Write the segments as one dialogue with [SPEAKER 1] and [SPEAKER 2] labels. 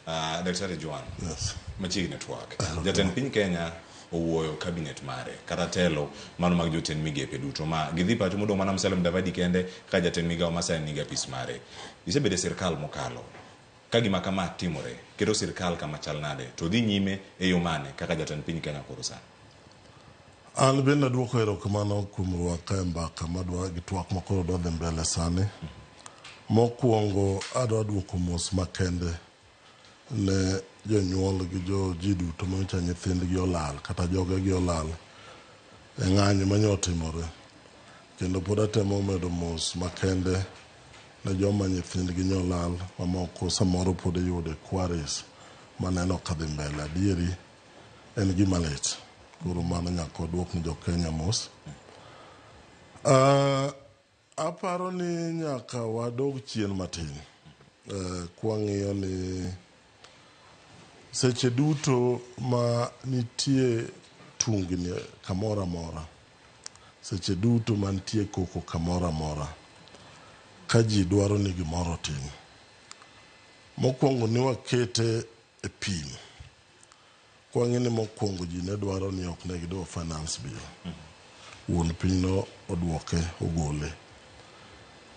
[SPEAKER 1] Ah, Daktari Juan, Yes. machiegni twak. Jatend piny Kenya owuoyo kabinet mare kata telo mano mag jotend migepe duto ma gidhi pacho modong' mana Musalia Mudavadi kende ka jatend migawo ma sani nigi apis mare. Isebedo e sirkal mokalo. Ka gima kama timore, keto sirkal kama chal nade to dhi nyime e yo mane kaka jatend piny Kenya koro sani?
[SPEAKER 2] An bende aduoko erokamano kuom rwaka e mbaka madwa gi twak ma koro dwa dhi mbele sani. Mokwongo adwa duoko mos makende ne jonyuol gi jo ji duto ma nyocha nyithindgi olal kata jogegi olal e ng'anyo manyo otimore. Kendo pod atemo medo mos makende ne joma nyithindgi nyo olal ma moko samoro pod iyudo e quarries maneno ka dhi mbele. Adieri. en gima lit. Koro mano nyaka waduok ni jo-Kenya mos. Ah, aparo ni nyaka wadog chien matin eh, kwang'iyo ni seche duto ma nitie tungni kamoro amora seche duto ma nitie koko kamoro amora ka ji dwaro ni gimoro otim mokwongo ni wakete e pim Kwang'e ni mokwongo ji ne dwaro ni ok ne gidwa finance bill. Wuon piny no odwoke, ogole.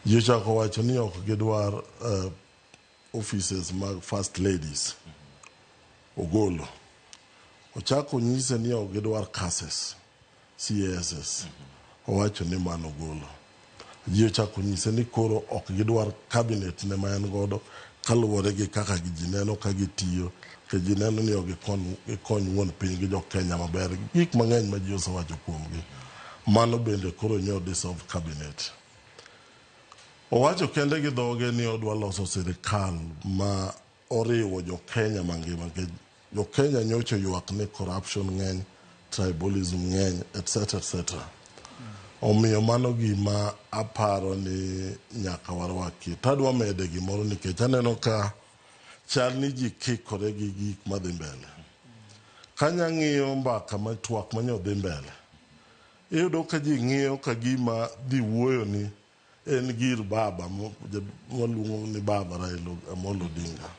[SPEAKER 2] Ji ochako wacho ni ok gidwar uh, offices mag first ladies. Ogolo. Ochako nyise ni ok gidwar curses. CASS owacho ni mano ogolo. Ji ochako nyise ni koro ok gidwar cabinet ne ma en godo kaluwore gi kaka ji neno ka gitiyo to ji neno ni ok gikony wuon piny gi jokenya maber. Gik mang'eny ma ji osewacho kuomgi. Mano bende koro nyo dissolve cabinet. Owacho kende gi dhoge ni odwa loso sirikal ma Oriwo jo Kenya mangima nikech jo Kenya nyocha oywak ni corruption ng'eny, tribalism ng'eny etc etc. Omiyo mano gima aparo ni nyaka warwakie. To adwa mede gimoro nikech aneno ka chal ni ji kikore gi gik madhi mbele. Kanya ng'iyo mbaka ma twak manyo dhi mbele, iyudo ka ji ng'iyo ka gima dhi wuoyo ni En gir baba mwaluongo ni baba Raila Amolo Odinga.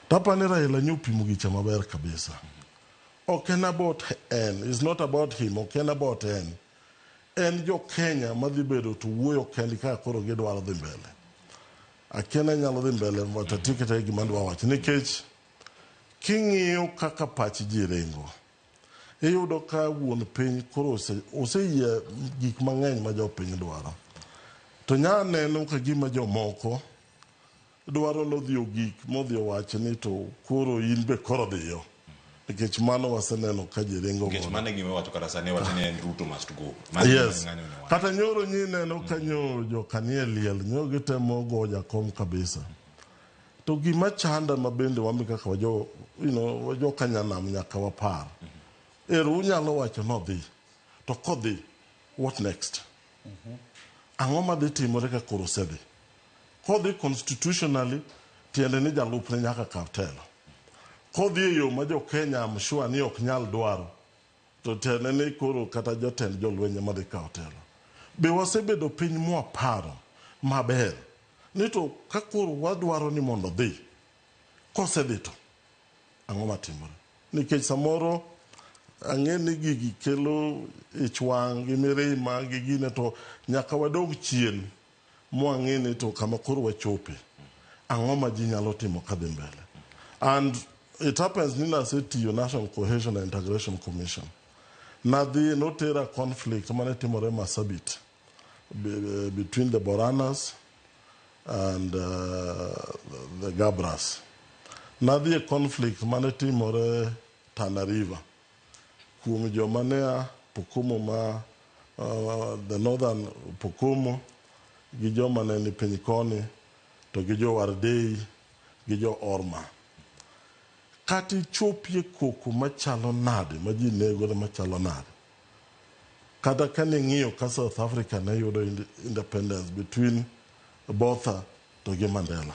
[SPEAKER 2] Tapani Raila nyo pimo gicha maber kabisa. Ok en about en, is not about him, ok en about en. En jo Kenya madhi bedo to wuoyo kendi ka koro gidwaro dhi mbele. Akiana nyalo dhi mbele but atiyo kete gima dwa wacho nikech king'iyo kaka pach ji ringo. Iyudo ka wuon piny koro oseyie gik mang'eny ma jopiny dwaro. To nya neno ka gima jomoko dwaro nodhi ogik modhi owach ni to koro in be koro dhiyo. Nikech mano waseneno ka ji ringo godo. Mano e gima iwacho kata
[SPEAKER 1] sani iwacho ni en Ruto must go. Yes.
[SPEAKER 2] Kata nyoro nyi neno ka nyo joka nie liel nyo gitemo go jakom kabisa. To gima chanda ma bende wami kaka wajo, you know, wajo kanyanam nyaka wapar. Mm -hmm. Ero unyalo wacho nodhi. To kodhi, what next? Mm -hmm. Ang'o ma dhi timore ka koro osedhi? Kodhi constitutionally, tiende ni jalupne nyaka kaw telo. Kodhi e yo ma jo Kenya am sure ni ok nyal dwaro. To tene ni koro kata jotend jolweny ema dhi kawo telo. Be wasebedo piny mwaparo maber ni to ka koro wadwaro ni mondo odhi, kosedhi to ang'o matimore? Nikech samoro ang'e ni gigi kelo ich wang' gi mirima gi gine to nyaka wadog chien. mwang'e ni to kama koro wachope ang'o ma ji nyalo timo kadhi mbele and it happens ni nasetiyo National Cohesion and Integration Commission nadhi notera conflict mane timore Masabit be- between the Boranas and uh, the Gabras nadhi e conflict mane timore Tana River Kuom joma ne a Pokomo ma the Northern Pokomo gi joma ne ni piny koni to gi jo Wardei gi jo Orma. Kata ichopie koko machalo nade ma ji negore machalo nade. Kata kane ing'iyo ka South Africa ne yudo independence between Botha to gi Mandela.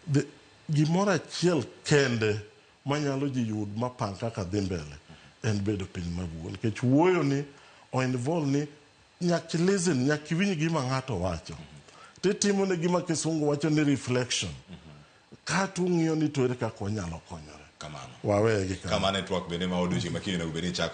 [SPEAKER 2] The gimoro achiel kende manyalo ji yud mapang kaka dhi mbele en bedo piny mabuo nikech wuoyo ni o involve ni nyaki listen nyaki winj gima ng'ato wacho titimo ne gima kisungu wacho ni reflection kata ung'iyo ni to ere
[SPEAKER 1] kaka wanyalo konyore kamano
[SPEAKER 2] wawegi
[SPEAKER 1] kamano kamano e
[SPEAKER 2] twak
[SPEAKER 1] bende ma odiochieng'
[SPEAKER 2] makinde
[SPEAKER 1] onego
[SPEAKER 2] bed ni
[SPEAKER 1] chakore